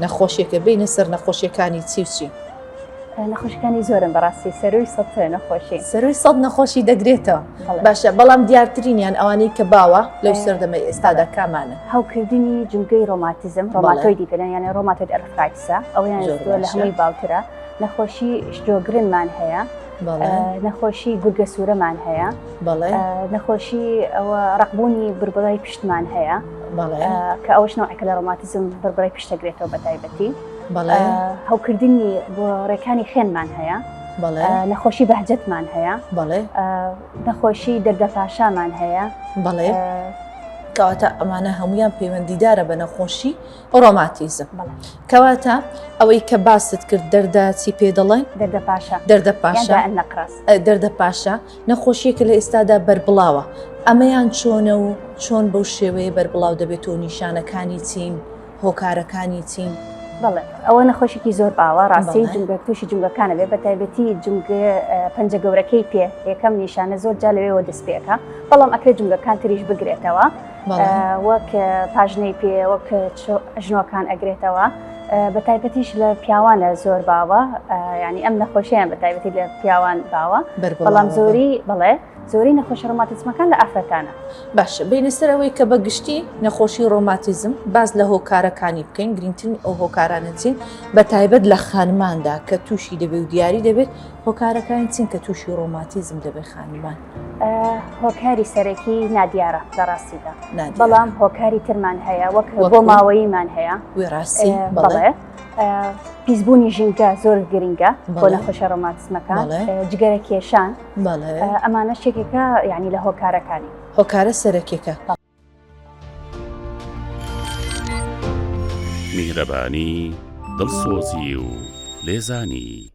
نەخۆشیەکە بینە سەر نەخۆشیەکانی چی و چی؟ نەخۆشەکانی زۆرن بەڕاستی سەروی سە نەخۆشی سەروی سە نەخۆشی دەگرێتەوە باشە بەڵام دیارترینیان ئەوانەی کە باوە لەو سەردەمە ئێستادا کامانە هەوکردنی جوگەی ڕۆماتیزم ڕۆماتۆی دیپێنە یانە ڕۆماتۆت ئەرفراکسە ئەویان لە هەمووی باوترە نەخۆشی شتۆگرنمان هەیە نەخۆشی گورگە سوورەمان هەیە نەخۆشی ئەوە ڕقبوونی بربڕای پشتمان هەیە کە ئەوش نەوەکە لە ڕۆماتزم بربڕای پشتەگرێتەوە بە تایبەتی هەوکردنی بۆ ڕێکانی خوێنمان هەیە نەخۆشی بەهجەتمان هەیە نەخۆشی دەردە پاشامان هەیە بەڵێ کەواتە ئەمانە هەمویان پەیوەندیدارە بە نەخۆشی ڕۆماتیزم. کەواتە ئەوەی کە باست کرد دەردە چی پێ دەڵێن؟ دەردە پاشا. دەردە پاشا. یان دائەننەقراس. دەردە پاشا نەخۆشییەکە لە ئێستادا بەربڵاوە، ئەمەیان چۆنە و چۆن بەو شێوەیە بەربڵاو دەبێتەوە و نیشانەکانی چین، هۆکارەکانی چین؟ بەڵێ ئەوە نەخۆشیکی زۆر باوە ڕاستەی جومگە توشی جومگەکانە بێ بەتایبەتی جومگە پەنجە گەورەکەی پێ یەکەم نیشانە زۆر جا لەوێوە دەست پێکا بەڵام ئەکرێ جومگەکان تریش بگرێتەوە. وەک پاژنەی پێ وەک ژنۆکان ئەگرێتەوە بە تایبەتیش لە پیاوانە زۆر باوە ینی ئەم نەخۆشیان بە تایبەتی لە پیاوان باوە بەڵام زۆری بڵێ زۆری نەخۆشی ڕۆماتیزمەکان لە ئافرەتانە باشە بینەسەرەوەی کە بە گشتی نەخۆشی ڕۆماتیزم باز لە هۆکارەکانی بکەین گرنگترین ئەو هۆکارانە چین بە تایبەت لە خانماندا کە تووشی دەبێ و دیاری دەبێت هۆکارەکانی چین کە تووشی ڕۆماتیزم دەبێت خانمان هۆکاری سەرەکی نادیارە لە ڕاستیدا بەڵام هۆکاری ترمان هەیە وەک بۆ ماوەییمان هەیە وێڕاستی بڵێ پیسبوونی ژینگە زۆر گرنگە بۆ نەخۆشە ڕۆماتسمەکان جگەرە کێشان ئەمانە شتێکەکە یعنی لە هۆکارەکانی هۆکارە سەرەکیەکە میهرەبانی دڵسۆزی و لێزانی.